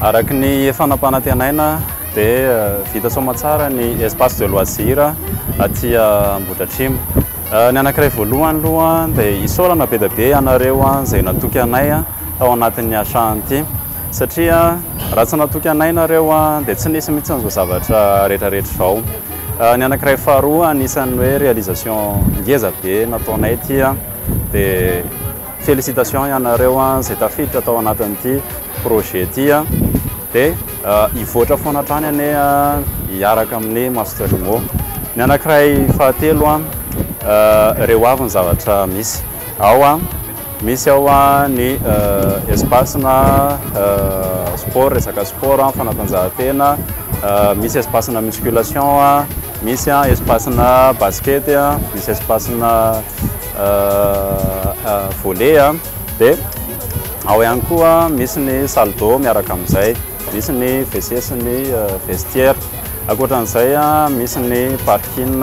Araka ny efa nampanantenaina dia vita soamatsara ny espace de loisir aty Ambohidratrimo. Ny anankiray voalohany aloha dia isaorana be dia be ianareo izay natoky anay tao anatin'ny achat an'ity satria raha tsy natoky anay nareo dia tsy nisy mihitsy an'izao zavatra rehetrarehetra izao. Ny anankiray faharoa anisan'ny hoe réalisation ngeza be nataonay ity dia Félicitations ianareo a, izay tafiditra tao anatin'ity projet ity a, dia hivoatra foana hatrany anie a, hiaraka amin'ny Master Rimo. Ny anankiray fahatelo a, ireo avy ny zavatra misy ao a, misy ao a ny espace-na sport, resaka sport, fanatanjahantena, misy espace-na musculation a, Misy an espace-na basket an, misy espace-na volley an, dia ao ihany koa misy ny salle d'eau miaraka amin'izay, misy ny WC sy ny vestiaire. Ankoatra an'izay an, misy ny parking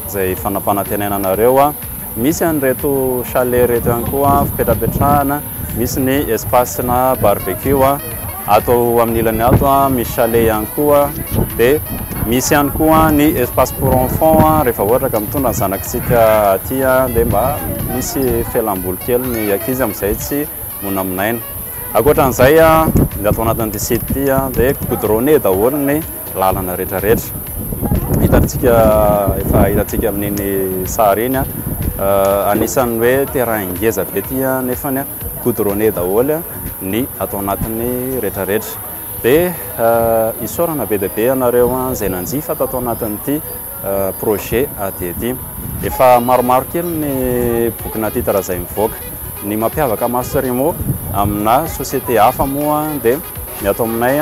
izay fanapanantenana anareo. Misy an'ireto chalet ireto ihany koa fipetrapetrahana, misy ny espace-na barbecue ato amin'ny ilany ato, misy chalet ihany koa, dia misy ihany koa ny espace pour enfants rehefa ohatra ka mitondra ny zanakitsika aty dia mba misy fialamboly kely ny ankizy amin'izay tsy monamonaina. Ankoatra an'izay, ny ato anatin'ity site ity dia goudronné daholo ny lalana rehetra rehetra hitantsika efa hitantsika amin'iny sary iny a anisan'ny hoe terrain ngeza be ty a nefany a goudronné daholo a ny ato anatin'ny rehetra rehetra dia isaorana be dia be ianareo a izay nanjifa tato anatin'ity Projet ady ety. Efa maromaro kely ny bokina titre izay mivoaka. Ny mampiavaka Masterimo amina société hafa moa dia ny ato aminay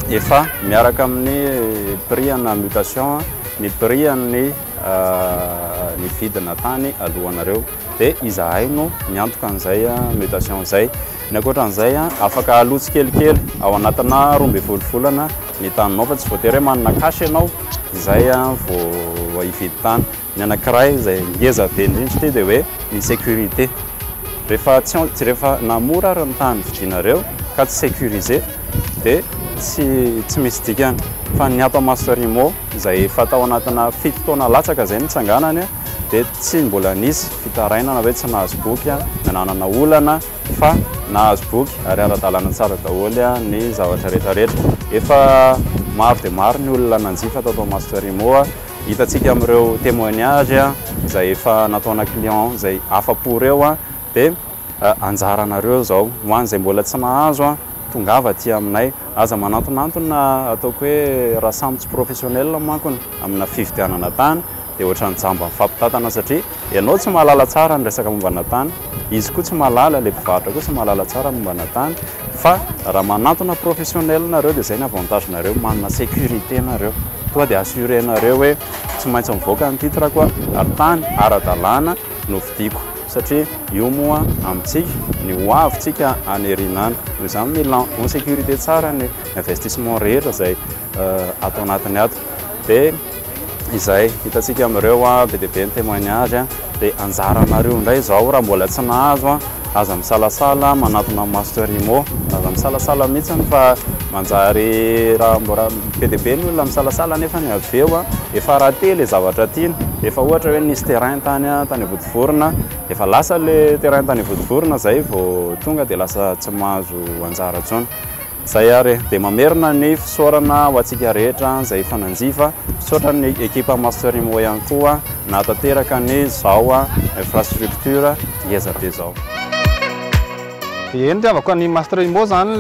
efa miaraka amin'ny prix ana mutation ny prix an'ny nividina tany alohanareo dia izahay no miantoka an'izay mutation izay. Ny ankoatra an'izay afaka aloa tsikelikely ao anatina roa ambin'ny folo volana. ny taninao fa tsy voatery hoe manana cash ianao izay vao hividy tany. Ny anankiray izay ngeza be indrindra ity dia hoe ny sécurité. Rehefa tsy rehefa na mora ary ny tany vidinareo ka tsy sécurisé dia tsy tsy misy dikany. Fa ny ato à Masterimo izay efa tao anatina fito taona latsaka izay nitsanganany dia tsy mbola nisy fitarainana hoe tsy nahazo boky, nananana olana. fa nahazo boky ary ara-dalàna tsara daholo ny zavatra rehetra rehetra. Efa maro dia maro ny olona nanjifa tao Toamasompitarimo, hitantsika amin'ireo témoignage izay efa nataona client izay afa-po ireo, dia anjaranareo izao, ho an'izay mbola tsy nahazo, tongava aty aminay, aza manantonantona, ataoko hoe raha samy tsy professionnel mankony amina fividianana tany Dia ohatran'ny jamba mifampitantana satria ianao tsy mahalala tsara ny resaka mombana tany, izy koa tsy mahalala, ilay mpivarotra koa tsy mahalala tsara ny mombana tany fa raha manantona professionnel nareo dia izay ny avantage nareo, manana sécurité nareo, tonga dia assuré nareo hoe tsy maintsy mivoaka ny titre ko ary tany ara-dalàna no vidiko satria io moa amintsika ny ho avy tsika any aoriana any, noho izany mila en sécurité tsara ny investissement rehetra izay ato anatiny ato dia. izay hitantsika amin'ireo be dia be ny témoignage dia anjaranareo indray izao raha mbola tsy nahazo aza misalasala manatona master imo aza misalasala mihitsiny fa manjary raha mbola be dia be ny olona misalasala nefa ny avy eo efa raté le zavatra tiana efa ohatra hoe nisy terrain tany tany vodivorona efa lasa le terrain tany vodivorona izay vao tonga dia lasa tsy mahazo anjara intsony Zay ary dia mamerina ny fisaorana ho antsika rehetra izay efa nanjifa. Misaotra ny ekipa Master Imo ihany koa nahatanteraka an'izao infrastructure ngeza be izao. Eny ry havako, ny Master Imo izany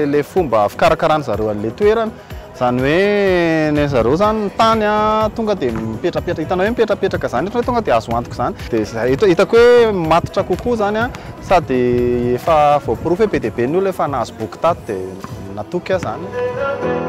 ilay fomba fikarakarana zareo an'ilay toerana. Izany hoe ny an'ny zareo izany ny tany an, tonga dia mipetrapetraka, hitanao hoe mipetrapetraka izany ohatran'ny hoe tonga dia azo antoka izany, dia izay eto hitako hoe matotra kokoa izany an, sady efa voaporofo hoe be dia be ny olona efa nahazo boky tato dia natoky aho izany.